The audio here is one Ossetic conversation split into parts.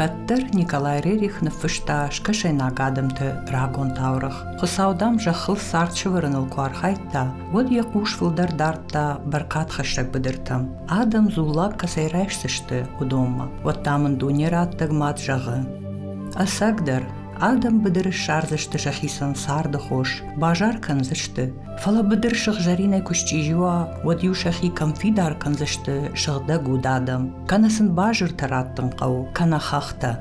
кӕддӕр николай рерих ныффыста скӕсӕйнаг адӕмты рагон таурӕгъ хуыцау дам зӕххыл цард сӕвӕрыныл куы архайдта уӕд йӕ хъус фылдӕр дардта бӕркадхӕссӕг быдыртӕм адӕм дзуллаг кӕцӕй райсдзысты уыдонмӕ уӕд та мын дуне раддӕг мад зӕгъы ӕцӕгдӕр Адӕм быдыры ссардзысты сӕхицӕн царды хос, базар кӕндзысты. Фӕлӕ быдыр сыгъзӕринӕй куы счъизи уа, уӕд-иу сӕхи кӕм фидар кӕндзысты сыгъдӕг уд адӕм. Кӕнӕ сын базыртӕ раттын хъӕуы, кӕнӕ хӕхтӕ.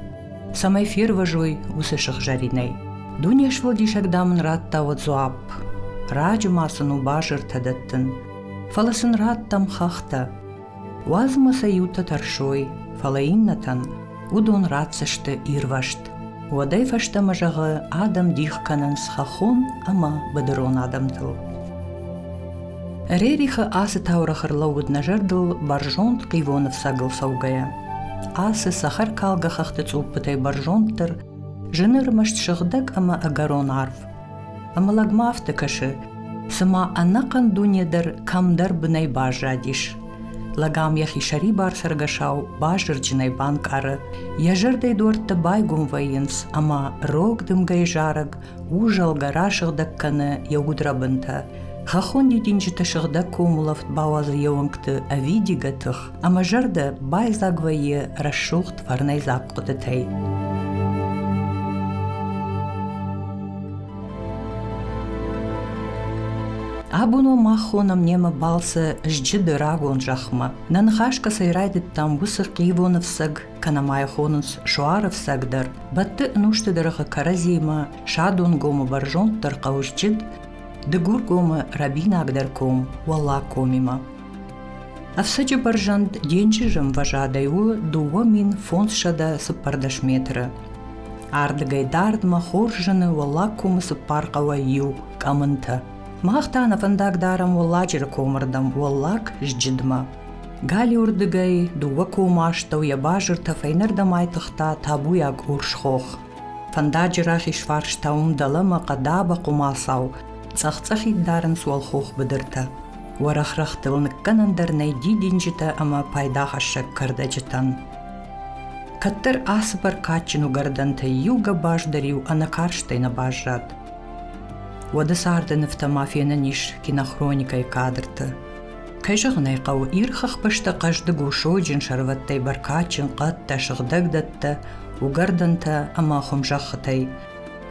Цӕмӕй фервӕзой уыцы сыгъзӕринӕй. Дуне сфӕлдисӕг дам ын радта уӕд дзуапп. Раджы ма сын у базыртӕ дӕттын. Фӕлӕ сын раттӕм хӕхтӕ. Уадзмӕ сӕ иутӕ тӕрсой, фӕлӕ иннӕтӕн уыдон ратдзысты ирвӕзт. Уӕдӕй фӕстӕмӕ зӕгъы, адӕм дих кӕнынц хӕххон ӕмӕ быдырон адӕмтыл. Рерихы ацы таурӕгъ ӕрлӕууыд нӕ зӕрдыл бӕрзонд хъивоны фцӕгыл цӕугӕйӕ. Ацы цӕхӕркалгӕ хӕхты цъуппытӕй бӕрзонддӕр, зын ӕрмӕст сыгъдӕг ӕмӕ ӕгӕрон арв, Ӕмӕ лӕгмӕ афтӕ кӕсы, цыма ӕнӕхъӕн дуне дӕр кӕмдӕр бынӕй баззадис. Лӕгам йӕхи сӕрибар цӕргӕсау базырджынӕй банкъары, йӕ зӕрдӕйы дуӕрттӕ байгом вӕййынц ӕмӕ рог дымгӕйы зарӕг ужӕлгӕ расыгъдӕг кӕны йӕ удрӕбынтӕ. Хӕххон дидинджытӕ сыгъдӕг комулӕфт бауадзы йе уӕнгты ӕвидигӕ тых. ӕмӕ зӕрдӕ байдзаг вӕййы рӕсугъд фӕрнӕйдзаг хъуыдытӕй. Абоно мах хонам немӕ балцы зджыды рагон зӕхмӕ. Нӕ ныхас кӕцӕй райдыдтам, уыцы хъивоны фцӕг, кӕнӕ мӕй хонынц суары фцӕг дӕр. Бӕтты ӕнусты дыргъы кӕрӕдзимӕ садонгомы бӕрзонддӕр хъӕу зджыд, Дыгургомы рӕбинагдӕр ком Уӕллагкомимӕ. Ӕфцӕджы бӕрзӕнд денджызы мвӕзадӕй у дыууӕ мин фондзсӕдӕ цыппӕрдӕс метры. Ардыгӕй дардмӕ хорз зыны Уӕллагкомы цыппар хъӕуӕй иу Къӕмынты. Мах та нӕ фӕндаг дарӕм Уӕлладжыры комырдӕм Уӕллаг Зджыдмӕ. Галиуырдыгӕй дыууӕ комы астӕу йӕ базыртӕ фӕйнӕрдӕм айтыгъта табуйаг урс хох. Фӕндаджы рахизфарс та уым дӕлӕмӕ хъӕдабӕ хъуымацау цъӕх-цъӕхид дарынц уӕлхох быдыртӕ. Уӕрӕхрӕгътыл ныккӕнӕн дӕр нӕй дидинджытӕ ӕмӕ пайдахӕссӕг кӕрдӕджытӕн. Кӕддӕр ацы бӕркадджын уыгӕрдӕнтӕй иу гӕбаз дӕр-иу ӕнӕкарстӕй нӕ баззад. Уӕды царды нывтӕ ма фенӕн ис кинохроникӕйы кадрты. Кӕй зӕгъын ӕй хъӕуы, ирхы хбӕстӕ хъӕздыг у сойджын сӕрвӕттӕй бӕркадджын хъӕдтӕ, сыгъдӕг дӕттӕ, уыгӕрдӕнтӕ ӕмӕ хуымзӕххытӕй.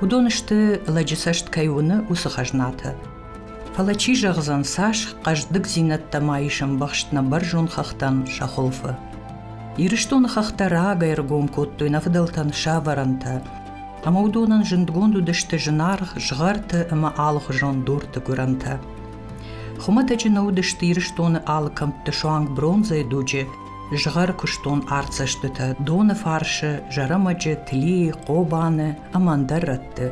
Уыдон сты, лӕджы цӕст кӕй уыны, уыцы хӕзнатӕ. Фӕлӕ чи зӕгъдзӕн, цас хъӕздыгдзинӕдтӕ ма ис ӕмбӕхст нӕ бӕрзонд хӕхтӕн сӕ хуылфы. Ирыстоны хӕхтӕ рагӕй ӕргом кодтой нӕ фыдӕлтӕн сӕ ӕвӕрӕнтӕ, ӕмӕ уыдонӕн зындгонд уыдысты зынаргъ згъӕрты ӕмӕ алыхуызон дурты гуырӕнтӕ. Хуымӕтӕджы нӕ уыдысты Ирыстоны алы кӕмтты суанг бронзӕйы дуджы згъӕр куыстон артдзӕстытӕ доны фарсы, зӕрӕмӕджы, Тлийы, Хъобаны ӕмӕ ӕндӕр рӕтты.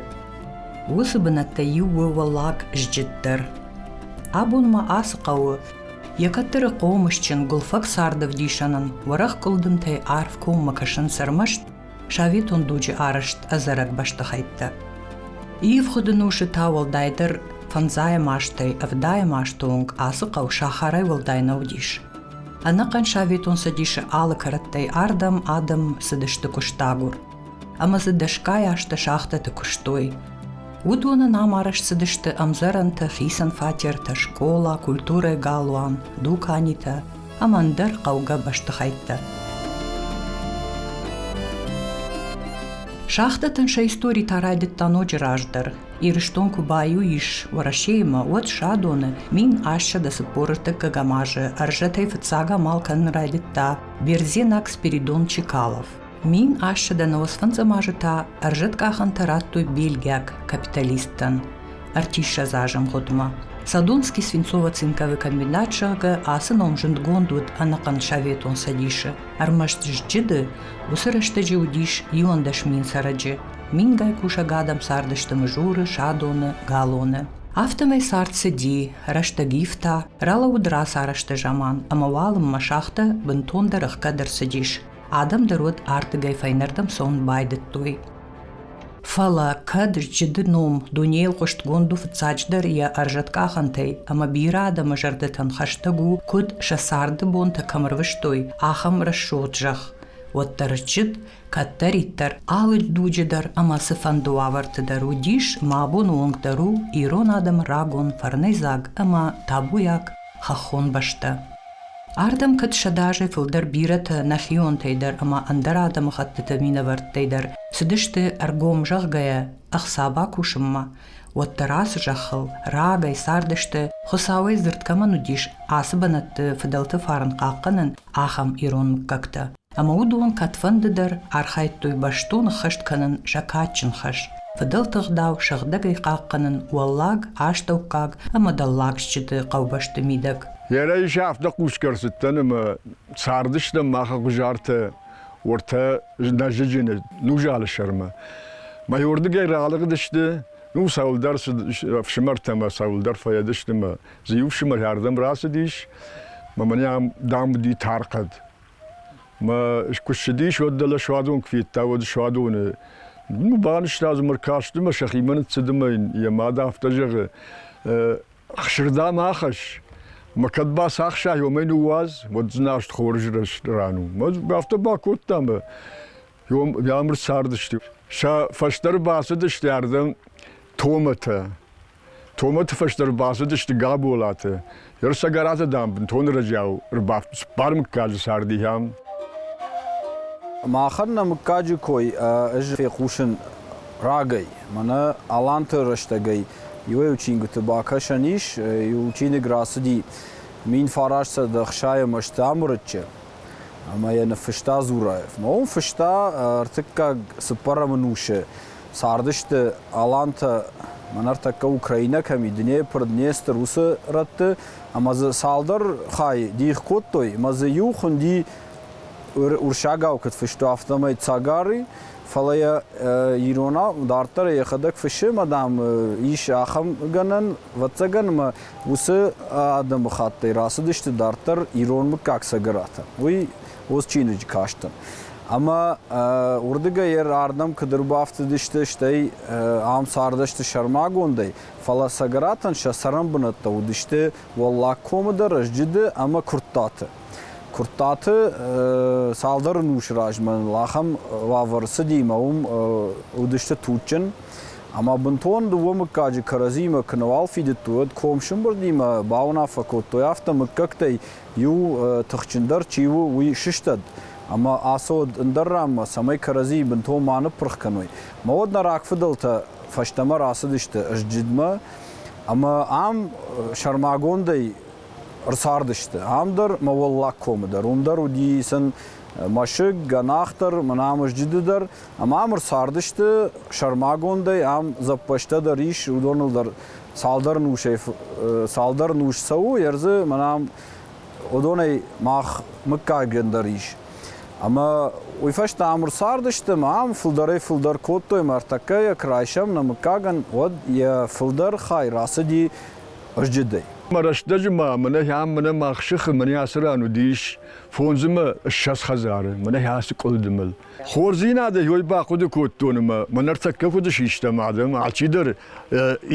Уыцы бынӕттӕй иу у Уӕллаг Зджыд дӕр. Абон ма ацы хъӕуы йӕ кӕддӕры хъомысджын гуылфӕг царды вдисӕнӕн уӕрӕх къуылдымтӕй арф коммӕ кӕсынц ӕрмӕст советон дуджы арӕзт ӕдзӕрӕг бӕстыхӕйттӕ. Ивгъуыды носы та уӕлдайдӕр фӕндзайӕм азтӕй ӕвдайӕм азты онг ацы хъӕу сахарӕй уӕлдай нӕ уыдис. Ӕнӕхъӕн Советон Цӕдисы алы кӕрӕттӕй ардӕм адӕм цыдысты куыстагур. ӕмӕ дзы дӕсгай азты шахтӕты куыстой. Уыдоны нӕм арӕзт цыдысты ӕмдзӕрӕнтӕ, хицӕн фатертӕ, скъола, культурӕ галуан, дуканитӕ ӕмӕ ӕндӕр хъӕугӕ бӕстыхӕйттӕ. Шахтӕтӕн сӕ истори та райдыдта ноджы раздӕр. Ирыстон куы баиу ис Уӕрӕсеимӕ, уӕд садоны мин ассӕдӕ цыппор ӕртыккӕгӕм азы ӕрзӕтӕй фыццаг амал кӕнын райдыдта Бердзенаг Спиридон Чекалов. Мин ассыдӕн лосфӕндзӕм азы та ӕрзӕт къахӕнтӕ радтой бельгиаг капиталисттӕн ӕртиссӕдзазӕмгъуыдмӕ. Садонский свинцово-цинковый комбинат зӕгъгӕ ацы ном зындгонд уыд ӕнӕхъӕн Советон Цӕдисы, ӕрмӕст зджыды уыцы рӕстӕджы уыдис иуӕндӕс мин цӕрӕджы. Мингай кусӕг адӕм цардысты мызуры, садоны, галоны. Афтӕмӕй цард цыди, рӕстӕг ивта, ралӕууыд рацарӕзты заман ӕмӕ уалынмӕ шахтӕ бынтондӕр ӕхгӕд ӕрцыдис. Адӕм дӕр уӕд ардыгӕй фӕйнӕрдӕм цӕуын байдыдтой. Фӕлӕ кӕд рчъыды ном дунейыл хъуыстгонд у фыццаджыдӕр йӕ ӕрзӕткъахӕнтӕй ӕмӕ бирӕ адӕмы зӕрдӕтӕн хӕстӕг у, куыд сӕ царды бонтӕ кӕм ӕрвыстой, ахӕм рӕсугъд зӕхх, уӕддӕр рчъыд кӕддӕриддӕр алы дуджы дӕр ӕмӕ цыфӕнды уавӕрты дӕр уыдис, мӕ бон уынг дӕр у ирон адӕмы рагон фӕрнӕйдзаг ӕмӕ табуйаг хӕххон бӕстӕ. Ардӕм кӕд сӕдӕ азӕй фылдӕр бирӕтӕ нӕхионтӕй дӕр ӕмӕ ӕндӕр адӕмыхӕттыты минӕвӕрттӕй дӕр цыдысты ӕргом зӕгъгӕйӕ ӕхца бакусынмӕ, уӕддӕр ацы зӕххыл рагӕй цардысты, Хуыцауӕй дзырд кӕмӕн уыдис, ацы бынӕтты фыдӕлты фарн хъахъхъӕнын, ахӕм ирон мыггӕгтӕ. ӕмӕ уыдон кӕдфӕнды дӕр архайдтой бӕстон ӕххӕст кӕнын сӕ кадджын хӕс, фыдӕлты ӕгъдау сыгъдӕгӕй хъахъхъӕнын уӕллаг, астӕуккаг ӕмӕ дӕллагсджыты хъӕубӕсты мидӕг. Лерӕ ис афтӕ хъусгӕ ӕрцыдтӕн ӕмӕ цардыстӕм мах Ӕгъуызартӕ уӕртӕ Нӕзыджыны Нузалы сӕрмӕ. Мӕйуырдыгӕй ралыгъдысты, ну цӕуылдӕр ӕфсымӕртӕ ӕмӕ цӕуылдӕр фӕйӕдысты мӕ дзы иу фсымӕр ардӕм рацыдис, мӕ мӕн ам дам уыди тар хъӕд. Мӕ куы ссыдис, уӕд дӕлӕ суадон куы федта, уӕд суадоны банызта ӕмӕ ркасты мӕ сӕхимӕ ныццыды мӕ йӕ мад афтӕ зӕгъы, хсырдам ахӕсс, мӕ кӕд бацахсай, уымӕй ныууадз, уӕд дзыназт хорз ран у. Афтӕ бакодта мӕ ӕмыр цардысты. Сӕ фӕстӕ ӕрбацыдысты ардӕм томатӕ. Томаты фӕстӕ ӕрбацыдысты Габолаты. Ерсӕгӕраты, дам, бынтон ӕрӕджиау ӕрбафт цыппар мыггаджы царды ахӕм. Махӕн нӕ мыггаджы кой ӕз фехъусын рагӕй. Мӕнӕ Аланты рӕстӕгӕй иуӕй-иу чингуыты бакӕсӕн ис. Иу чиныг рацыди мин фарасдӕс ӕхсайы Мӕстӕмырыччы ӕмӕ йӕ ныффыста Зураев. Ном фыста ӕртыккаг цыппӕрӕм ӕнусы Цардысты алантӕ мӕ ныртӕккӕ Украинӕ кӕми Днепр, Днестр уыцы рӕтты ӕмӕ дзы цалдӕр хай дих кодтой ӕмӕ дзы иу хуынди урсагау куыд фысты, афтӕмӕй цагары, фӕлӕ йӕ иронау дарддӕр йӕхӕдӕг фыссы ӕмӕ дам ис ахӕм гӕнӕн, ӕвӕццӕгӕн ӕмӕ уыцы адӕмыхаттӕй рацыдысты дарддӕр ирон мыггаг цӕгӕратӕ. Уый Ус чиныджы кастӕн. Ӕмӕ уырдыгӕй йӕ ардӕм куыд ӕрбафтыдысты, стӕй ам цардысты сӕрмагондӕй, фӕлӕ цӕгӕратӕн сӕ цӕрӕнбынӕттӕ уыдысты Уӕллаг Комы дӕр, Ӕзджыды ӕмӕ Куырттаты. Куырттаты цалдӕр ӕнусы размӕ ныл ахӕм уавӕр цыди ӕмӕ уым уыдысты туджджын. Ӕмӕ бынтон дыууӕ мыггаджы кӕрӕдзимӕ куы нӕуал фидыдтой, уӕд комсымбырдимӕ бауынаффӕ кодтой, афтӕ мыггӕгтӕй Иу тыхджындӕр чи у, уый сыстӕд ӕмӕ ацӕуӕд ӕндӕр ранмӕ, цӕмӕй кӕрӕдзийы бынтон ма ныппырх кӕной. Мӕ уӕд нӕ рагфыдӕлтӕ фӕстӕмӕ рацыдысты Сджидмӕ ӕмӕ ам сӕрмагондӕй ӕрцардысты. Ам дӕр мӕ Уӕллаг комы дӕр уым дӕр уыди сын мӕсыг, гӕнах дӕр, Мынамызджыды дӕр, ӕмӕ ам ӕрцардысты сӕрмагондӕй, ам дзӕппӕзтӕ дӕр ис, уыдоныл дӕр цалдӕр цалдӕр нус цӕуы, ӕрдзы мӕнӕ уыдонӕй мах мыггагӕн дӕр ис. Ӕмӕ уый фӕстӕ ӕмыр цардысты, ам фылдӕрӕй фылдӕр кодтой мӕ ӕртӕккӕ йӕ куы райсӕм нӕ мыггагӕн, уӕд йӕ фылдӕр хай рацыди ызджыдӕй. Мӕ рӕстӕджы ма мӕнӕ ам мӕнӕ мах сыхы мӕнӕ ацы ран уыдис фондз ӕмӕ ссӕдз хӕдзары, мӕнӕ ацы къуылдымыл. Хорздзийнадӕ уой бахъуди кодтон ӕма мӕн ӕртӕккӕ куд систам адӕм, алчидӕр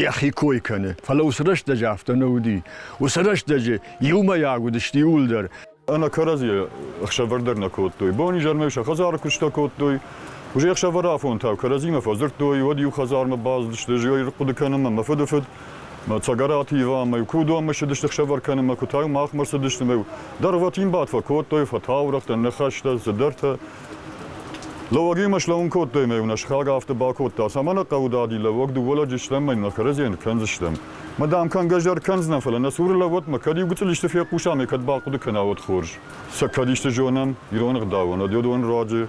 йӕхи кой кӕны. Фӕлӕ уыцы рӕстӕджы афтӕ нӕ уыди. Уыцы рӕстӕджы иумӕйаг уыдысты иууылдӕр. Ӕнӕ кӕрӕдзийӕ ӕхсӕвӕр дӕр нӕ кодтой. Бонизӕрмӕ сӕ хӕдзары куыстӕ кодтой. Уызӕхсӕвӕрафонтау кӕрӕдзимӕ фӕдзырдтой, уӕд иу хӕдзармӕ бацыдысты, ӕз ӕй хъуыды кӕнын, мӕ фыды фыд Цӕгӕраты Иванмӕ куы уыдон мысыдысты хсӕвӕр кӕнынмӕ, куы та махмӕ рцыдысты, дӕр вӕтин бадфӕ кодтой, фӕтаурӕгътӕ, ныхӕстӕ, цыдӕртӕ. Лӕуӕгимӕ слӕууын кодтой мӕ уын схаг афтӕ бакодта, цӕмӕ нӕ хъӕуы дади лӕуӕг дыууӕ лӕджы стӕм мӕ нын кӕрӕдзийӕн кӕндзыстӕм. Ма дам кӕнгӕ зӕр кӕндзынӕн, фӕлӕ нӕ цуры лӕууӕт мӕ кӕд иу гуыцъыл исты фехъуса мӕ кӕд бахъуыды кӕна, уӕд хорз. Сӕ кӕд исты зонӕм, ирон ӕгъдауӕн, ӕдеон руаджы,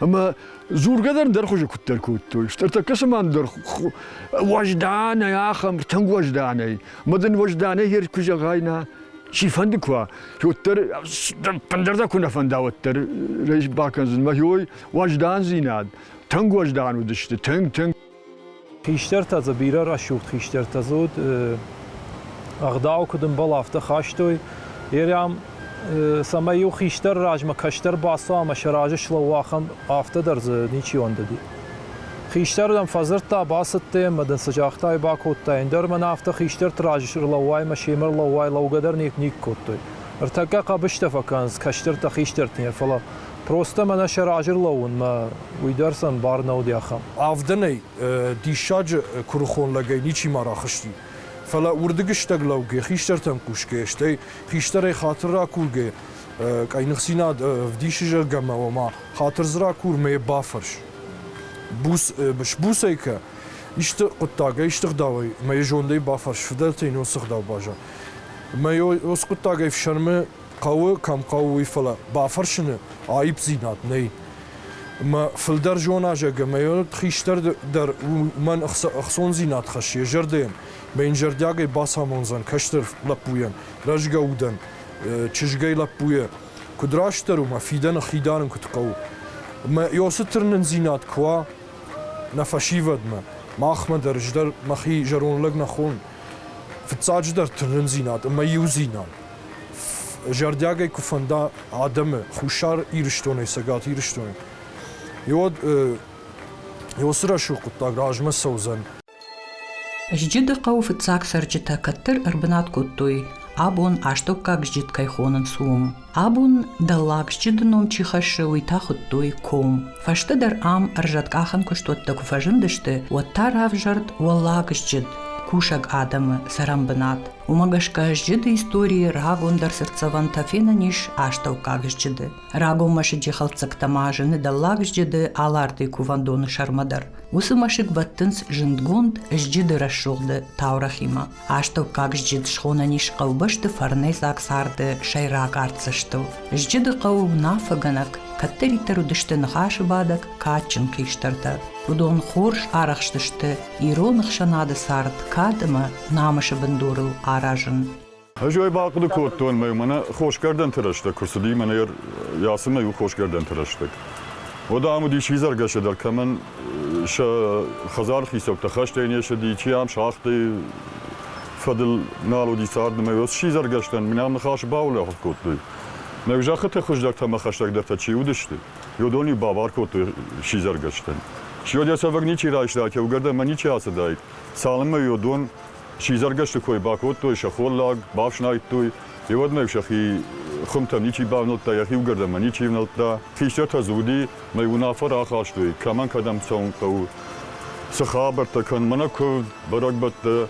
Ӕма дзургӕ дӕр дӕр хузи куддӕр кодтой. Стӕр тӕккӕ цӕмӕн дӕр уӕзданӕй, ахӕм тынг уӕзданӕй. Ма дын уӕзданӕй ер куы зӕгъайна, чи фӕнды куа, уӕддӕр ӕндӕрдӕр куы нӕ фӕнда, уӕддӕр рейс бакӕндзӕн. Мӕ хой уӕздандзинад, тынг уӕздан уыдысты, тынг-тынг. Хистӕртӕ дзы бирӕ рӕсугъд хистӕртӕ дзы уыд. Ӕгъдау куыд ӕмбал, афтӕ хастой. Ерӕм, цӕмӕй-иу хистӕр размӕ кӕстӕр бацӕуа ӕмӕ сӕ разы слӕууа, ахӕм афтӕ дӕр дзы ничи ӕндыди. Хистӕр дӕм фӕдзырдта, бацыдтӕ ӕмӕ дын цы загътай, бакодтай, ӕндӕр мӕнӕ афтӕ хистӕрты разы рлӕууай ӕмӕ семӕ рлӕууай, лӕугӕ дӕр никуы кодтой. Ӕртӕккӕ хъӕбыстӕ фӕкӕнынц кӕстӕртӕ хистӕртӕн, фӕлӕ Просто мӕнӕ сӕ раджы рлӕууынмӕ уый дӕр сӕм бар нӕ уыди ахӕм. Авдӕнӕй диссаджы куырыхон лӕгӕй ничи ма рахызти. Фӕлӕ уырдыгыстӕг лӕуг йӕ хистӕртӕм хъусгӕйӕ, стӕй хистӕрӕй хатыр ракургӕйӕ къӕйныхдзинад ӕвдисы, зӕгъгӕ, ома хатыр дзы ракурмӕ йӕ бафӕрс. Буц, сбуцӕй кӕ, исты хъуыддаг ӕй стыгъдауай мӕ йӕ зондӕй бафӕрс, фыдӕлтӕй нон цы гъдау базза мӕ йӕ ус хъуыддаг ӕй фсӕрмы хъӕуы кӕм хъӕуы, уый, фӕлӕ бафӕрсыны аипдзинад нӕй. Мӕ фылдӕр зоназӕг ӕмӕ йӕ хистӕр дӕр уымӕн ӕхцондзинад хӕссы йӕ зӕрдӕйӕн, мӕ йын зӕрдиагӕй бацамондзӕн кӕстӕр лӕппуйӕн, рӕзгӕ удӕн, чызгӕй лӕппуйӕ куыд растдӕр у мӕ фидӕны хидарын куыд хъӕуы. Мӕ ёсы тырнындзинад куы уа нӕ фӕсивӕдмӕ, махмӕ дӕр ӕз дӕр мӕхи зӕронд лӕг нӕ хон. Фыццаджыдӕр тырнындзинад ӕмӕ иудзинад. зӕрдиагӕй куы фӕнда адӕмы Хуссар Ирыстонӕй, Цӕгат Ирыстонӕй, уӕд уыцы рӕсугъд хъуыддаг размӕ цӕудзӕн. Зджыды хъӕу фыццаг цӕрджытӕ кӕддӕр ӕрбынат кодтой, абон астӕуккаг зджыт кӕй хонынц, уым. Абон дӕллаг зджыды ном чи хӕссы, уый та хуыдтой ком. Фӕстӕдӕр ам ӕрзӕткъахӕн куыстуӕттӕ куы фӕзындысты, уӕд та равзӕрд Уӕллаг зджыд, кусӕг адӕмы цӕрӕнбынат. Уымӕ гӕсгӕ сджыды историйы рагондӕр сӕрдцӕвӕнтӕ фенӕн ис астӕуккаг сджыды. Рагон мӕсыджы хӕлддзӕгтӕ ма зыны дӕллаг сджыды Аларты кувӕндоны сӕрмӕ дӕр. Уыцы мӕсыг бӕттынц зындгонд сджыды рӕсугъды таурӕхимӕ. Астӕуккаг сджыд схонӕн ис хъӕубӕсты фӕрнӕйдзаг царды сӕйраг артдзӕстыл. Сджыды хъӕу уынаффӕгӕнӕг кӕддӕриддӕр уыдысты ныхасы бадӕг кадджын хистӕртӕ. Уыдон хорз арӕхстысты ирон ӕхсӕнады цард кад ӕмӕ намысы бындурыл аразын. Ӕз ӕй бахъуыды кодтон мӕ мӕнӕ хосгӕрдӕнты рӕстӕг куы цыди, мӕнӕ йацы мӕ иу хосгӕрдӕнты рӕстӕг. Уӕд ам уыдис изӕргӕсӕ дӕр, кӕмӕн сӕ хӕдзары хицӕуттӕ хӕстӕй не ссыди, чи ам сагъдӕй фӕдыл нал уыди цард, ӕмӕ йӕ сидзӕргӕстӕн мын ам ныхас баулӕфт кодтой. Мӕ зӕххыты хуыздӕртӕ ӕмӕ хӕстӕгдӕртӕ чи уыдысты, Йодони бабар кодтой сидзӕргӕстӕн. Сьодесовӕг ничи райста, кеугӕрдӕн мӕ ничи ацыдаид. Цалынмӕ Йодон сидзӕргӕсты кой бакодтой, сӕ холлаг бафснайдтой, и уӕдмӕ сӕхи хуымтӕм ничи бавнӕлдта, йӕхи угӕрдӕнмӕ ничи ӕвнӕлдта. Хистӕртӕ дзуди мӕ уынаффӕ рахастой, кӕмӕн кӕдӕм цӕуын хъӕуы, цы хабӕрттӕ кӕн, мӕнӕ куывд, бӕрӕгбӕттӕ.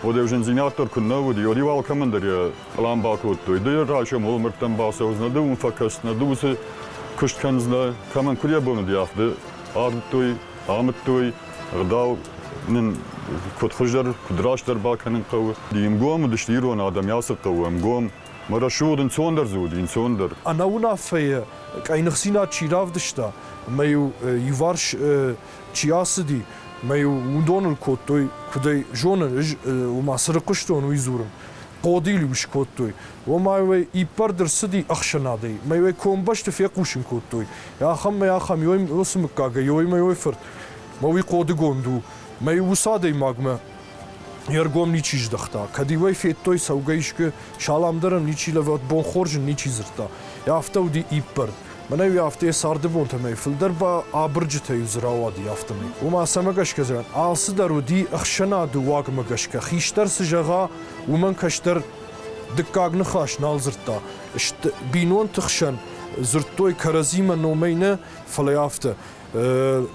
Уӕд ӕв зындзинад дӕр куыннӕ уыд, Йориу алкӕмӕн дӕр йӕ Фӕлӕ ам бакодтой, ды йӕ рачамол, мырдтӕм бацӕудзынӕ, ды уым фӕкӕсдзынӕ, ды уыцы куыст кӕндзынӕ, кӕмӕн куыд йӕ бон уыди, афтӕ арыдтой, амыдтой, ӕгъдау нын куыд хуыздӕр, куыд растдӕр бакӕнын хъӕуы. Ӕмгом уыдысты ирон адӕм йацы хъӕуы ӕмгом. Мӕ рӕсугъд ӕнцондӕр дзы уыд, ӕнцондӕр. Ӕнӕуынаффӕйы къӕйныхдзинад чи равдыста ӕмӕ-иу иуварс чи ацыди, мӕ-иу уыдон ын кодтой, куыд ӕй зонын, ӕз уым ацы рыхъуыстон, уый дзурын, хъодил ус кодтой. Омӕ уӕ иппӕрд ӕрцыди ӕхсӕнадӕй. Мӕ уӕ комбӕсты фехъусын кодтой. Ахӕм мӕ ахӕм ёй уыцы мыггагӕй, ёй мӕ ёй фырт. Мӕ уый хъодыгонд у. Мӕ ус адӕймагмӕ йе ргом ничи здыхта. Кӕд иуӕй федтой цӕугӕ искуы, салам дӕр ӕм ничи лӕвӕрд, бонхорз ын ничи дзырдта. Афтӕ уыди иппӕрд. Мӕнӕ-иу афтӕ цардыбонтӕмӕй фылдӕр ба абырджытӕ-иу дзы рауади, афтӕмӕй. Ома, цӕмӕ гӕсгӕ зӕгъӕм, алцыдӕр уыди ӕхсӕнады уагмӕ гӕсгӕ. Хистӕр цы зӕгъа, уымӕн кӕстӕр дыккаг ныхас нал дзырдта. Сты бинонты хсӕн дзырдтой кӕрӕдзимӕ номӕй нӕ, фӕлӕ афтӕ.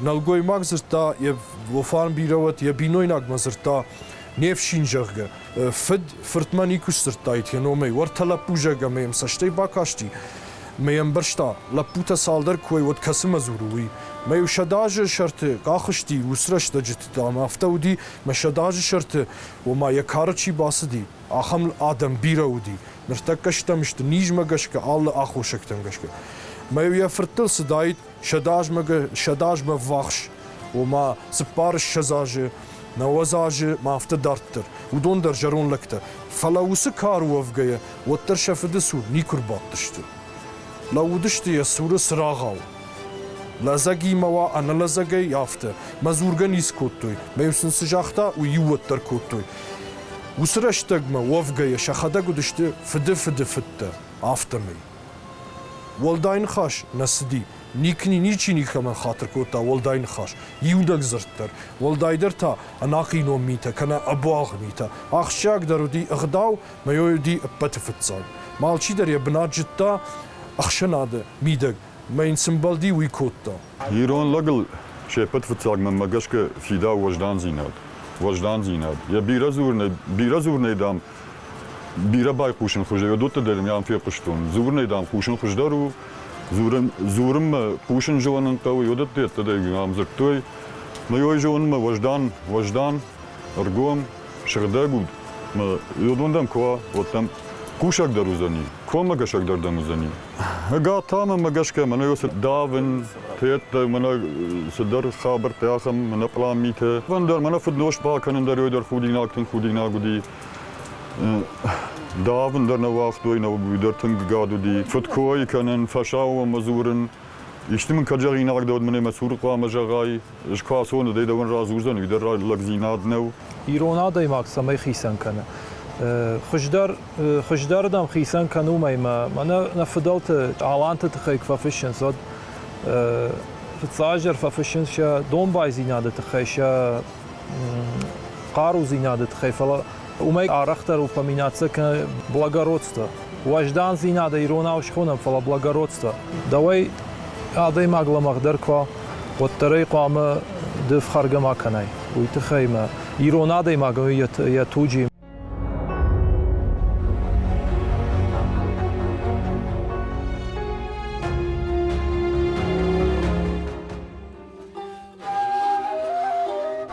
Нӕлгоймаг дзырдта, йӕ Лофан бирӕ уӕд йӕ бинойнагмӕ дзырдта, не фсин, зӕгъгӕ. Фыд фыртмӕ никуы сдзырдтаид йӕ номӕй. Уӕртӕ лӕппу зӕгъ ӕмӕ йӕм цӕстӕй бакасти. Мӕ ӕмбӕрста, лӕппутӕ цалдӕр куы уой, уӕд кӕцымӕ дзуры, уый. Мӕ-иу сӕдӕ азы сӕрты къах сти урс рӕстӕджыты, ӕмӕ афтӕ уыди, мӕ сӕдӕ азы сӕрты, ома, йӕ кары чи бацыди, ахӕм адӕм бирӕ уыди. Ныртӕккӕ стӕм сты, низмӕ гӕсгӕ, алы аххосӕгтӕм гӕсгӕ. Мӕ-иу йӕ фырттыл цыдаид, сӕдӕ азмӕ сӕдӕ азмӕ ввахс, ома цыппар ссӕдз азы, нӕуӕдз азы ма афтӕ дарддӕр, уыдон дӕр зӕронд лӕгтӕ. Фӕлӕ уыцы кары уӕвгӕйӕ, уӕддӕр сӕ фыды цур никуы рбадтысты. Лӕууыдысты йӕ цуры цырагъау. Лӕдзӕгимӕ уа, ӕнӕлӕдзӕгӕй афтӕ, мӕ дзургӕ ницы кодтой, мӕ-иу сын цы загъта, уый иу уӕддӕр кодтой. Уыцы рӕстӕгмӕ уӕвгӕйӕ сӕхӕдӕг уыдысты фыды фыды фыдтӕ, афтӕмӕй. Уӕлдай ныхас нӕ цыди. Никни ничи никӕмӕн хатыр кодта уӕлдай ныхас. Иудӕг дзырд дӕр, уӕлдайдӕр та ӕнахъинон митӕ кӕнӕ ӕбуалгъ митӕ. Ахсджиагдӕр уыди ӕгъдау, мӕйой уыди ӕппӕты фыццаг. Малчидӕр йӕ бынат зыдта ӕхсӕнады мидӕг, мӕ йын цы мбӕлди, уый кодта. Ирон лӕгыл се ппӕт фыццаг мӕнмӕ гӕсгӕ фидауы уӕздандзинад. Уӕздандзинад, йӕ бирӕ дзурынӕй, бирӕ дзурынӕй, дам, Бирӕ байхъусын хуызӕй уыдоттӕ дӕр ам фехъуыстон. Дзурынӕй, дам, хъусын хуыздӕр у. Дзурын, дзурынмӕ хъусын зылынын хъӕуы, уыдӕттӕ йеддӕдӕр ам дзырдтой. Мӕйой зонынмӕ уӕздан, уӕздан, ӕргом, сыгъдӕг уд, мӕ уыдон дӕм куы уа, уӕд дӕм хъусӕгдӕр уыдзӕни, коммӕгӕсӕгдӕр дӕм уыдзӕни. Гатамӕ мӕ гӕсгӕ мӕнӕ цы давынц, тедта мӕнӕ цыдӕр хабӕрттӕ ахӕм мӕнӕ пълан митӕ. Вӕндӕр мӕнӕ фыднос бакӕнын дӕр ой дӕр худинаг тынг худинаг уыди. Давын дӕр нӕ уагътой, нӕ уый дӕр тынг гад уыди. Фыдкойы кӕнын, фӕсауӕмӕ дзурын. Исты мын кӕд зӕгъинаг дӕуӕд мын ӕмӕ цур хъуамӕ зӕгъай. Сквасоны дӕ дӕуӕн радзурдзӕн, уый дӕр лӕгдзинад нӕу. Ирон адӕймаг цӕмӕй хицӕн кӕны? Хуыздӕр хуыздӕр дӕм хицӕн кӕн уымӕй мӕ мӕнӕ нӕ фыдӕлты тъаланты тыххӕй куы фӕфыссынц, уӕд фыццадждӕр фӕфыссынц сӕ домбайдзинады тыххӕй, сӕ хъарудзинады тыххӕй, фӕлӕ Уымӕй арӕхдӕр упоминацӕ кӕны благородство. Уӕздандзинадӕ иронау схонӕм, фӕлӕ благородство. Дӕуӕй адӕймаг лӕмӕгъдӕр куы уа, уӕддӕр ӕй хъуамӕ ды фхӕргӕ ма кӕнай. Уый тыххӕй мӕ ирон адӕймаг у йӕ туджи.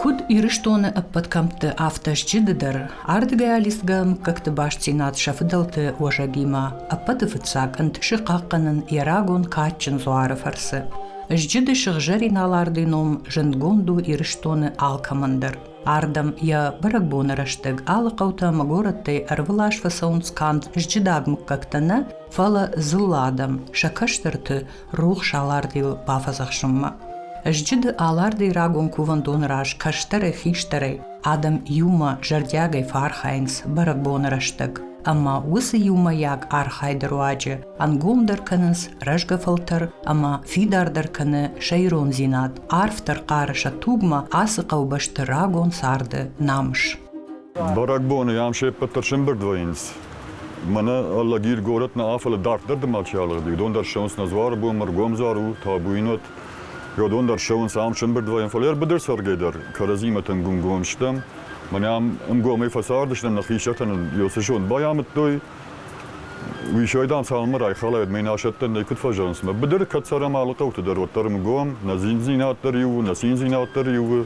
Куыд Ирыстоны ӕппӕт кӕмтты, афтӕ стджыды дӕр, ардгӕй-алыстгӕ мыггӕгты бастдзинад сӕ фыдӕлты уӕзӕгимӕ, ӕппӕты фыццаг ӕнт ссы хъахъхъӕнын йӕ рагон кадджын дзуары фӕрцы. Зджыды сыгъзӕрин алардый ном зындгонд у Ирыстоны алкӕмӕн дӕр. Ардӕм йӕ бӕрӕгбоны рӕстӕг алы хъӕутӕ-ӕмӕ горӕттӕй ӕрвылаз фӕцӕуынц канд зджыдаг мыггӕгтӕ нӕ, фӕлӕ дзыллӕ адӕм, сӕ кӕстӕрты, рухс алардийыл бафӕдзӕхсунмӕ. Ӕзджыды алардей рагон кувӕндоны раз кӕстӕрӕй-хистӕрӕй адӕм иумӕ зӕрдиагӕй фӕархайынц бӕрӕгбоны рӕстӕг, ӕмӕ уыцы иумӕйаг архайды руаджы ӕнгомдӕр кӕнынц рӕзгӕ фӕлтӕр ӕмӕ фидардӕр кӕны сӕ ирондзинад, арфдӕр хъары сӕ тугмӕ ацы хъӕубӕсты рагон царды намыс. Бӕрӕгбоны ам се ппӕт дӕр се мбырд вӕййынц. Мӕнӕ Лагир горӕт нӕ афӕлы дарддӕр дымӕг чи алыгъди, уыдон дӕр ссӕуынц нӕ Дзуары бон, Мыргомзар у, Табуинот, уыдон дӕр ссӕуынц ам сӕмбырд вӕййын, фӕлӕ ӕрбыдӕр цӕргӕй дӕр кӕрӕдзимӕ тынг гунгон стӕм. Мӕнӕ ам ӕнгомӕй фӕцардысты нӕхи сӕтӕн Иосы зонд байамыдтой. Уисой, дам, цалынмӕ райхалаид, мӕ инасӕттӕн нӕй куыд фӕзӕгъынц, мӕ быдыры кӕд цӕрӕм алы хъӕуты дӕр, уӕддӕр ӕнгом, нӕ зиндзинад дӕр иу у, нӕ циндзинад дӕр иу у,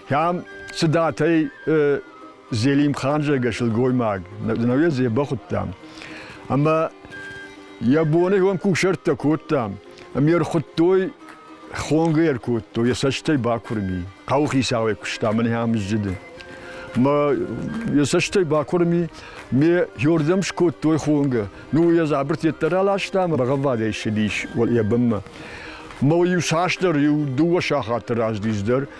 Кӕм цыдатӕй Зелимхан зӕгӕ сылгоймаг, науӕ дзебӕхудтам. Ӕмӕ йӕ боны уӕм кусӕрттӕ кодтам, ӕм йе рхуыдтой, хонгӕ йӕ кодтой, йӕ цӕстӕй бакуырми. Хъӕуы хицауӕй куыста мӕ нӕм зджыды. Мӕ йӕ цӕстӕй бакуырми, ме йордӕм скодтой хонгӕ. Ну, йӕ дзабырт йеддӕр аластам, рӕгъӕввадӕй ссыдис йӕ бынмӕ. Мӕ иу цасдӕр, иу дыууӕ сахаты раздис дӕр,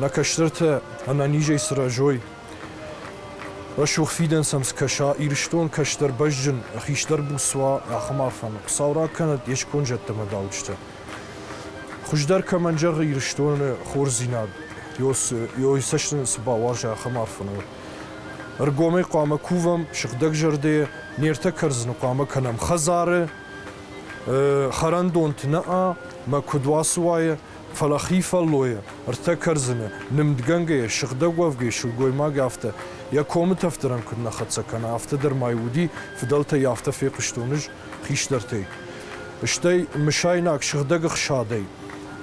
Нӕ кӕстӕртӕ ӕнӕнизӕй сырӕзой. Рӕсугъд фидӕн сӕм скӕса, Ирыстон кӕстӕр бӕзджын, хистӕр буц уа, ахӕм арфӕмӕ. Хуыцау ракӕнӕд йе сконд зӕдтӕм ӕдауджытӕ. Хуыздӕр кӕмӕн зӕгъы Ирыстоны хорздзинад, йой цӕст нын цы бауарза, ахӕм арфӕмӕ. Ӕргомӕй хъуамӕ кувӕм, сыгъдӕг зӕрдӕйӕ, не ртӕ кӕрдзыны хъуамӕ кӕнӕм хӕдзары, хӕрӕндонты нӕ, мӕ куыд уацы уайы, Фӕлӕ хи фӕллойӕ, ӕртӕ кӕрдзыны, нымдгӕнгӕйӕ, сыгъдӕг уӕвгӕйы сылгоймаг афтӕ, йӕ комы тӕфдӕрӕн куыд нӕ хӕццӕ кӕна, афтӕ дӕр ма-иу уыди, фыдӕлтӕй афтӕ фехъуыстон ӕз хистӕртӕй. Стӕй, мысайнаг сыгъдӕг ӕхсадӕй,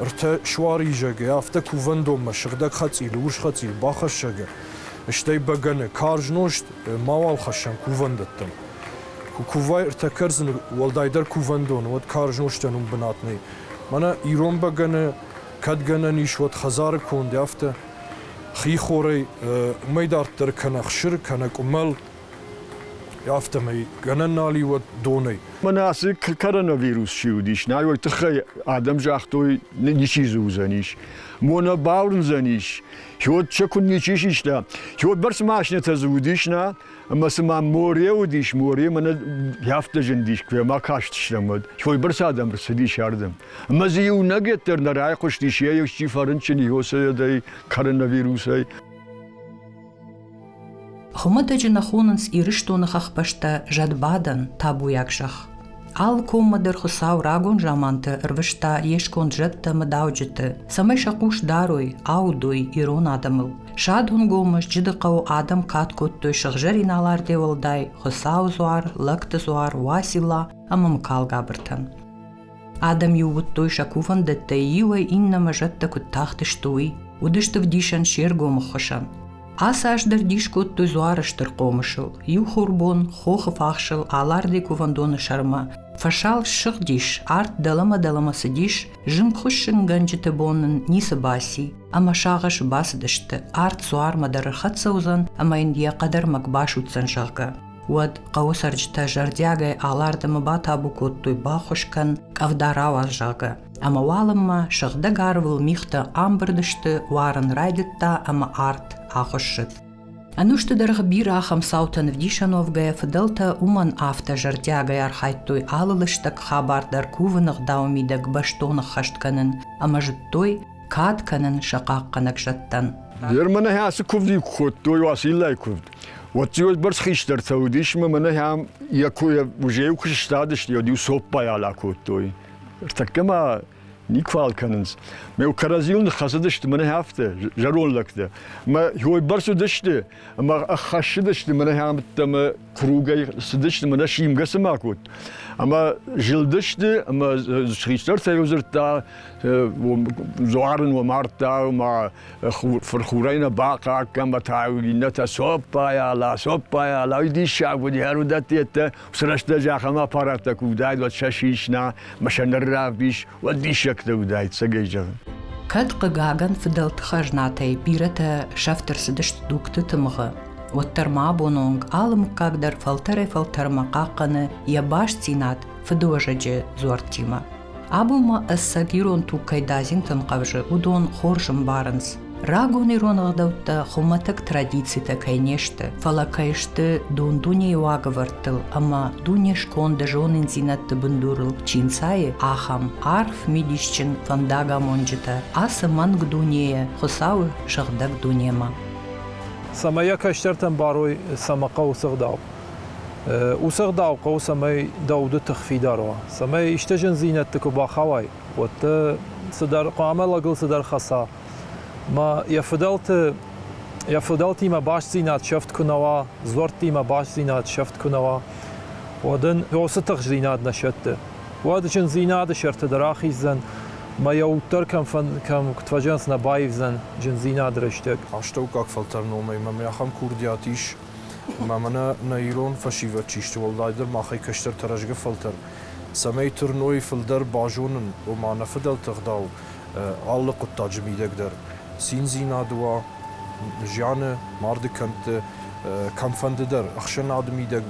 ӕртӕ суаризӕгӕй, афтӕ кувӕндонмӕ сыгъдӕг хӕцъилы, урс хӕцъил, бахӕссӕгӕ, стӕй бӕгӕны, карз нозт мауал хӕссӕм кувӕндӕттӕм. Куы кувай ӕртӕ кӕрдзыны, уӕлдайдӕр кувӕндоны, уӕд карз нозтӕн уым бынат нӕй. Мӕнӕ ирон бӕгӕны кӕд гӕнӕн ис уӕд хӕдзары конд, афтӕ хихорӕй уымӕй дарддӕр кӕнӕ хсыр, кӕнӕ къуымӕл, афтӕмӕй гӕнӕн нал и уӕд донӕй. Мӕнӕ ацы коронавирус чи уыдис, нӕ уый тыххӕй адӕм загътой, ничи дзы уыдзӕнис. Мо нӕ бауырндзӕнис, хиуд сӕ куыд ничи систа. Хиуд бӕрц машинӕтӕ дзы уыдис, нӕ, Ӕмӕ цыма море уыдис, море мӕнӕ афтӕ зындис, куы ма кастыстӕм, уӕд. Сойбырц адӕм рцыдис ардӕм. Ӕмӕ дзы иунӕгӕд дӕр нӕ райхъуыстис йӕ исчи фӕрынчын йосойадӕй, коронавирусӕй. Хуымӕтӕджы нӕ хонынц Ирыстоны хӕхбӕстӕ зӕдбадӕн, табуйаг зӕхх. Алы коммӕ дӕр Хуыцау рагон заманты ӕрвыста йе сконд зӕдтӕ мыдауджыты, цӕмӕй сӕ хъус дарой, аудой ирон адӕмыл. Садунгомы сджыды хъӕуы адӕм кад кодтой сыгъзӕрин алардӕй уӕлдай Хуыцауы дзуар, лӕгты дзуар, Уасила ӕмӕ Мыкалгабыртӕн. Адӕм иууыдтой сӕ кувӕндӕттӕй иуӕй иннӕмӕ зӕдтӕ куыд тахтысты, уый. Уыдысты вдисӕн се ргомы хсӕн. Ацы аз дӕр дис кодтой Дзуары стыр хъомысыл, иу хурбон хохы фахсыл алардый кувӕндоны сӕрмӕ. Фӕсал ссыгъдис, арт дӕлӕмӕ-дӕлӕмӕ цыдис, зынгхуыссынгӕнджыты бон нын ницы баци, ӕмӕ сагъӕс бацыдысты, арт Дзуармӕ дӕр ӕрхӕццӕ уыдзӕн ӕмӕ йын йӕ хъӕдӕрмӕг басудздзӕн, зӕгъгӕ. Уӕд хъӕуы цӕрджытӕ зӕрдиагӕй алардӕмӕ батабу кодтой, баххуыс кӕн, къӕвда рауадз, зӕгъгӕ. Ӕмӕ уалынмӕ сыгъдӕг арвыл мигътӕ амбырд сты, уарын райдыдта ӕмӕ арт ахуыссыд. Ӕнусты дӕргъы бирӕ ахӕм цаутӕн ӕвдисӕновгӕйӕ фыдӕлтӕ уымӕн афтӕ зӕрдиагӕй архайдтой алы лыстӕг хабар дӕр кувын ӕгъдауы мидӕг бӕстон ӕххӕст кӕнын ӕмӕ зыдтой, кад кӕнын сӕ хъахъхъӕнӕг зӕдтӕн. Гермӕ нӕхи ацы куывды куы кодтой, уацы иллӕй куывд, уӕд бӕрц хистӕртӕ уыдис, ӕмӕ нӕ йӕм йӕ кой ужейыл куы сыстадысты, уӕд иу цоппайӕ акодтой. Ӕртӕккӕ ма никуал кӕнынц. Ме кӕрӕдзийыл ныххӕцыдысты мӕнӕ афтӕ, зӕронд лӕгтӕ. Мӕ хойбӕрц уыдысты, ӕмӕ ӕххӕссыдысты мӕнӕ ӕмбыдтӕ мӕ кругӕй цыдысты, мӕнӕ симгӕ цыма кодт. Ӕмӕ зылдысты, ӕмӕ хистӕртӕ йыл дзырдта, дзуарын уӕ мардта, ӕмӕ фырхурӕй нӕ бахъахъхъӕн, ӕмӕ та иннӕтӕ цоппайа, ла, цоппайа, ла, диссаг уыд, ӕр уыдӕттӕ, Уыцы рӕстӕджы ахӕм аппараттӕ куы уыдаид, уӕд сӕ сисна, ӕмӕ сӕ ныр равдис, уӕд диссӕгтӕ уыдаид, цӕгӕй зӕгъын. Кӕд, хъыгагӕн, фыдӕлты хӕзнатӕй бирӕтӕ сӕфт ӕрцыдысты дугты тымыгъы, уӕддӕр ма абон онг алы мыггаг дӕр фӕлтӕрӕй-фӕлтӕрмӕ хъахъхъӕны йӕ бастдзинад фыдыуӕзӕджы дзуӕрттимӕ. Абома ӕцӕг ирон туг кӕй дадзинтӕн хъӕвзы, уыдон хорз ӕмбарынц. Рагон ирон ӕгъдӕуттӕ хуымӕтӕг традицитӕ кӕй не сты, фӕлӕ кӕй сты дон дунейы уагӕвӕрдтыл ӕмӕ дуне сконды зонындзинӕдты бындурыл чи нцайы, ахӕм арф мидисджын фӕндагамонджытӕ ацы мӕнг дунейӕ Хуыцауы сыгъдӕг дунемӕ. Цӕмӕй йӕ кӕстӕртӕн барой, цӕмӕ хъӕуы сыгъдау, Уыцы ӕгъдау хъӕуы, цӕмӕй дӕ уды тых фидар уа, цӕмӕй исты зындзинӕдты куы бахауай, уӕд дӕ цыдӕр хъуамӕ лӕгыл цыдӕр хӕца. Ма йӕ фыдӕлты йӕ фыдӕлтимӕ бастдзинад сӕфт куы нӕ уа, дзуӕрттимӕ бастдзинад сӕфт куы нӕ уа, уӕд ын уыцы тыхстдзинад нӕ сӕтты. Уӕд зындзинады сӕрты дӕр ахиздзӕн, ӕмӕ йӕ уддӕр кӕм, фӕн, кӕм куыд фӕзӕнц, нӕ баивдзӕн зындзинады рӕстӕг. Астӕуккаг фӕлтӕр номӕй мӕм ахӕм курдиат ис, Ӕмӕ мӕнӕ нӕ ирон фӕсивӕд чи сты, уӕлдайдӕр махӕй кӕстӕртӕ рӕзгӕ фӕлтӕр, цӕмӕй тырной фылдӕр базонын, ома нӕ фыдӕлты ӕгъдау алы хъуыддаджы мидӕг дӕр, циндзинад уа, зианы, марды кӕндты кӕмфӕнды дӕр, ӕхсӕнады мидӕг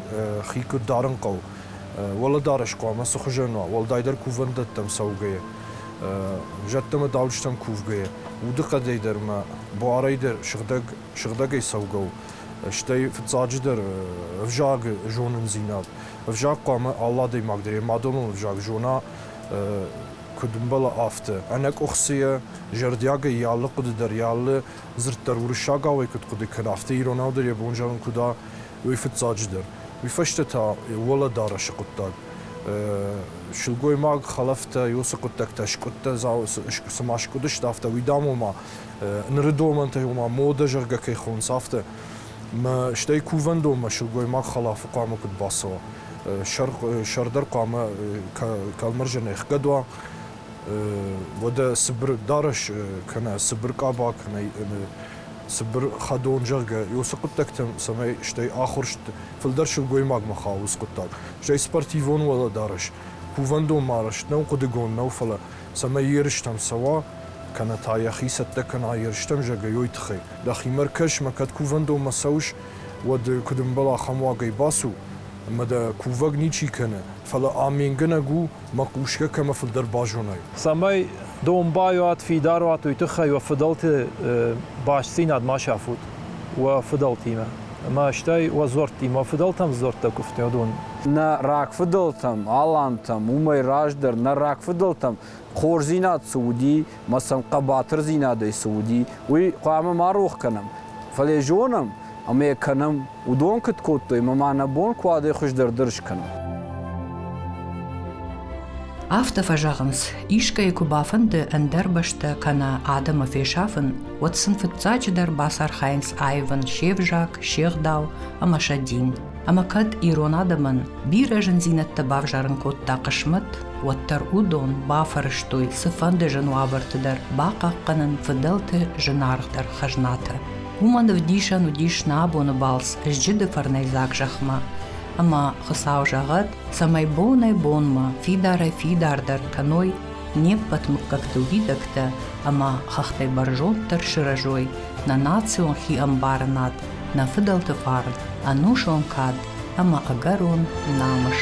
хи куыд дарын хъӕуы, уӕлӕдарӕс хъуамӕ цы хуызӕн уа, уӕлдайдӕр кувӕндӕттӕм цӕугӕйӕ, зӕдтӕ ӕмӕ дауджытӕм кувгӕйӕ, удыхъӕдӕй дӕр ӕмӕ буарӕй дӕр сыгъдӕг сыгъдӕгӕй цӕугӕ у. Стӕй, фыццаджыдӕр, ӕвзаг, зонындзинад. Ӕвзаг хъуамӕ алы адӕймаг дӕр йӕ мадӕлон ӕвзаг зона, куыд ӕмбӕла, афтӕ. Ӕнӕкъуыхцы йӕ зӕрдиагӕй йӕ алы хъуыды дӕр, йӕ алы дзырд дӕр уырыссагауӕй куыд хъуыды кӕна, афтӕ иронау дӕр йӕ бон зӕгъын куыд уа, уый фыццаджыдӕр. Уый фӕстӕ та уӕлӕдарӕсы хъуыддаг. Сылгоймаг, хӕлӕфтӕ, уыцы хъуыддӕгтӕ, скъуыдтӕ, цыма скъуыдысты, афтӕ уидӕмон ма Ныры домӕнтӕй, ома модӕ зӕгъгӕ кӕй хонынц, афтӕ. Мӕ стӕй кувӕндонмӕ сылгоймаг хӕлафы хъуамӕ куыд бацӕуа? Сӕрдар хъуамӕ кӕлмӕрзӕн ӕхгӕд уа. Уӕдӕ цыбыр дарӕс кӕнӕ цыбыр къаба кӕнӕ цыбыр хӕдон, зӕгъгӕ, уыцы хъуыддӕгтӕм, цӕмӕй стӕй ахуырст фылдӕр сылгоймагмӕ хауы цы хъуыддаг. Стӕй спортивон уӕлӕдарӕс, кувӕндонмӕ арӕзт нӕу хъуыдыгон нӕу, фӕлӕ цӕмӕй ерыстӕм цӕуа, кӕнӕ та йӕхи цӕттӕ кӕна ерыстӕм зӕгӕйой тыххӕй. Дӕхимӕ ркӕс, ма кӕд кувӕндонмӕ цӕуыс, уӕд куыд ӕмбӕл ахӕм уагӕй бацу, ӕмӕ дӕ кувӕг ничи кӕны, фӕлӕ аменгӕнӕг у, мӕ хъусгӕ кӕмӕ фылдӕр базонай. Цӕмӕй домбайуат фидар уат, уый тыххӕй уӕ фыдӕлты бастдзинад ма сафут уӕ фыдӕлтимӕ ӕмӕ стӕй уӕ дзуӕрттимӕ, фыдӕлтӕм дзуӕрттӕ куывдтӕ уыдон нӕ рагфыдӕлтӕм, алантӕм, уымӕй раздӕр нӕ рагфыдӕлтӕм хорздзинад цы уыди, мӕ сӕм хъӕбатырдзинадӕй цы уыди, уый хъуамӕ ма рох кӕнӕм. Фӕлӕ йӕ зонӕм ӕмӕ йӕ кӕнӕм. Уыдон куыд кодтой, ӕмӕ ма нӕ бон куы уӕдӕй хуыздӕр дӕр скӕнӕм. Афтӕ фӕзӕгъынц, искӕй куы бафӕнды ӕндӕр бӕстӕ кӕнӕ адӕмы фесафын, уӕд сын фыццаджыдӕр бацархайынц аивын се взаг, се гъдау ӕмӕ сӕ дин. Ӕмӕ кӕд ирон адӕмӕн бирӕ зындзинӕдтӕ бавзарын кодта хъысмӕт, уӕддӕр уыдон бафӕрӕзтой цыфӕнды зын уавӕрты дӕр бахъахъхъӕнын фыдӕлты зынаргъдӕр хӕзнатӕ. Уымӕн ӕвдисӕн уыдис нӕ абоны балц зджыды фӕрнӕйдзаг зӕхмӕ. Ӕмӕ Хуыцау зӕгъӕд, цӕмӕй бонӕй-бонмӕ фидарӕй-фидардӕр кӕной не ппӕт мыггӕгты уидӕгтӕ ӕмӕ хӕхтӕй бӕрзонддӕр сырӕзой, нӕ национ хиӕмбарынад, нӕ фыдӕлты фарн, ӕнусон кад ӕмӕ ӕгӕрон намыс.